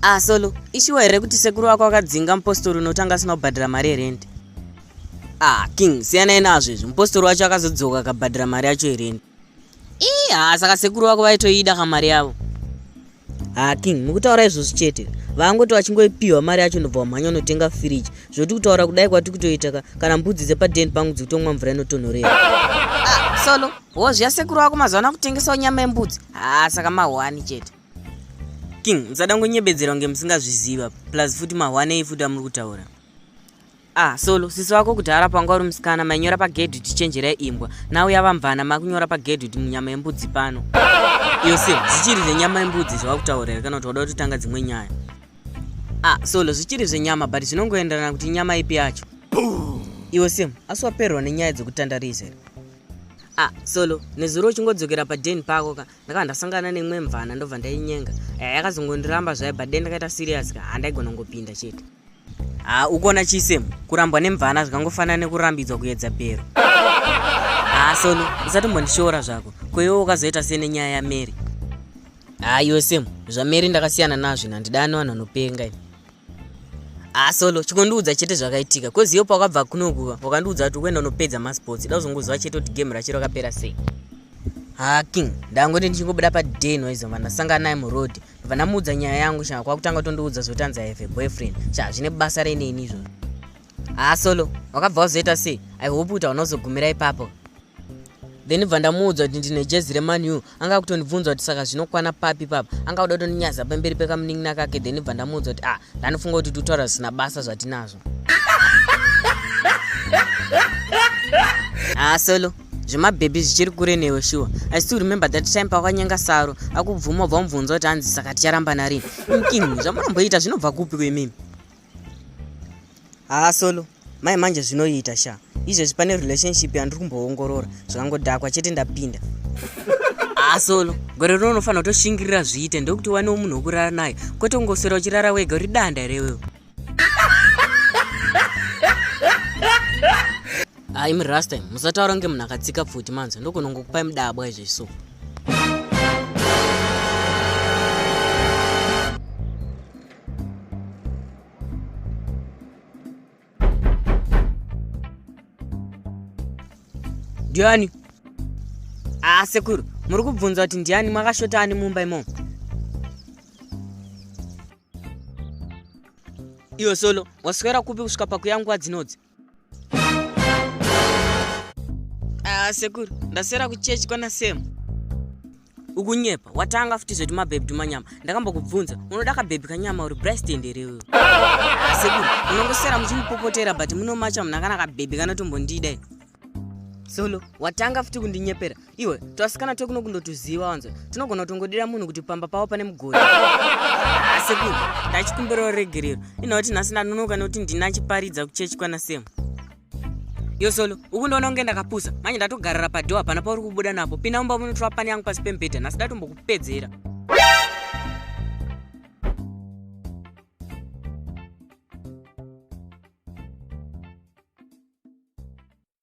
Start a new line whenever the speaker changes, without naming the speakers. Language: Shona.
ah solo ishuwa here kuti sekuru wako akadzinga mupostori unotanga asina kubhadhira mari yerendi ah king siyanai nazvo izvi mupostori wacho akazodzoka akabhadhira mari yacho yerendi ii haa saka sekuru vako vaitoida ka mari yavo haa king mukutaura izvozvo chete vangoti vachingoipiwa mari yacho ndobva wamhanya unotenga firiji zvoti kutaura kudai kwati kutoita ka kana mbudzi dzepadeni pangu dzikutomwa mvura inotonhorera ah, solo hozvi yasekuru vako mazuva ana kutengesawo nyama yembudzi haa ah, saka mahwani chete king musada kungonyebedzerwa ngemusingazviziva plus futi mahwanei futi amuri kutaura ah solo sisi vako kudhara panga uri musikana mainyora pagedhi kuti chenjerai imbwa nau yava mvana makunyora pagedhi kuti munyama yembudzi pano iyo se zvichiri zvenyama yembudzi zvava kutaura here kana kuti wada kutotanga dzimwe nyaya ah solo zvichiri zvenyama but zvinongoenderana kuti nyama ipi yacho iwo sim asi waperwa nenyaya dzekutandarisa here ah solo nezuro uchingodzokera paden pako ka ndakabva ndasangana neimwe mvana ndobva ndainyenga eh, yakazongondiramba zvayo but then ndakaita serious ka handaigona kungopinda chete ha ah, ukuona chisem kurambwa nemvana zvikangofanana nekurambidzwa kuyedza bhero ha ah, solo usatombondishoora zvako koiwo ukazoita se nenyaya yamary ha ah, iwe sem zvamary ndakasiyana nazvo nandidani vanhu vanopenga ini Ah, solo chikondiudza chete zvakaitika kozi iyo pakabva kunokuva wakandiudza kuti ukuenda unopedza masports ida kuzongoziva chete kuti game racho rakapera sei ha ah, king ndangoti ndichingobuda paden waizova ndasangana naye muroad ndobva ndamuudza nyaya yangu shaa kwakutanga tondiudza zvotanzi i have a boyfriend shaa zvine basa reinei ini izvozvo haa solo wakabva wazoita sei i hope kuti hauna kuzogumira ipapo then bva ndamuudza kuti ndine jezi reman u anga akutondibvunza kuti saka zvinokwana papi papa anga kuda kutondinyaza pamberi pekamunin'ina kake then bva ndamuudza kuti ah ndanofunga kuti tutaura zvisina basa zvatinazvo haa solo zvemabhebhi zvichiri kure newe shuwa i still remember that time pakwanyanga saro akubvuma ubva mubvunza kuti hanzi saka ticharamba narini mkini zvamunomboita zvinobva kupi kwemimi haa solo mai manje zvinoita sha izvezvi pane relationship yandiri kumboongorora zvakangodhakwa chete ndapinda haa solo gore rino unofanira kutoshingirira zviite ndokuti wanewo munhu wokurara naye kwete kungoswera uchirara wega uri danda here wewo haa imi last time musataura kunge munhu akatsika pfuti manzi ndogona kungokupai mudabwa izvezvi so ndiani aa ah, sekuru muri kubvunza kuti ndiani makashota ani mumba imomo iyo solo waswera kupi kusvika pakuyangwa dzinodzi Ah, sekuru ndaswera kuchechi kwana sam ukunyepa watanga futi zvoti mabhebhi tumanyama ndakambokubvunza unoda kabhebhi kanyama uri brasitend here iwewe sekuru munongoswera muchimupopotera but munomacha munhu akana kabhebhi kanotombondida solo watanga futi kundinyepera iwe twasikana twekuno kundotuziva wanzwa tinogona kutongodira munhu kuti pamba pavo pane mugodi asekuru ndachikumbirawo regerero ina kuti nhasi ndanonoka nekuti ndina chiparidza kuchechi kwana semu yosolo ukundiona kunge ndakapusa manje ndatogarira padho hapana pauri kubuda napo pinda mumba munotora pani yangu pasi pemubhedha nhasi ndatombokupedzera